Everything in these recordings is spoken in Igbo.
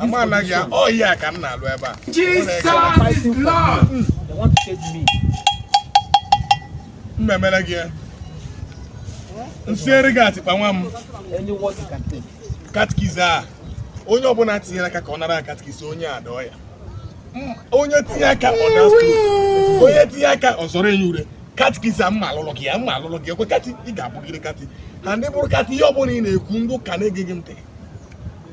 I'm a like ya. Oh yeah, I can now. Jesus is Lord. They want to take me. Mmemme like ya. Nsere ga atikpa nwa m. Any word you can take. Catechis a. Onye ọbụla tinyere aka ka ọ nara catechis ọnya adọọ ya. Onye tinye aka ọ na Onye tinye aka ọ zọrọ enyi ure. Catechis a mma alụlụ gị ya mma alụlụ gị ekwe kati ị ga-abụgide kati. Na ndị bụrụ kati ihe ọbụla ị na-ekwu ndị ụka na-ege gị ntị.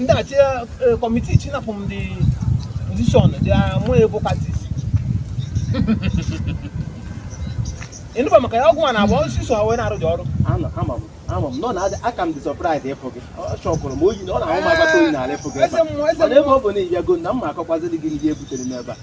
ndị church committee chinapụ m dị position dị mụ ebo catechist ị nụba maka ya ọgwụ a na-agba osisi so wee na-arụ dị ọrụ ama m nọ na aka m dị surprise ịfụ gị ọ chọkwụrụ m oyi na ọ na-ahụ m agbata oyi n'ala ịfụ gị ebe ọ bụ na ị bịago na m ma akọkwaziri gị ndị butere m ebe a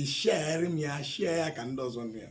ị sharerị m ya share ya ka ndị ọzọ nụ ya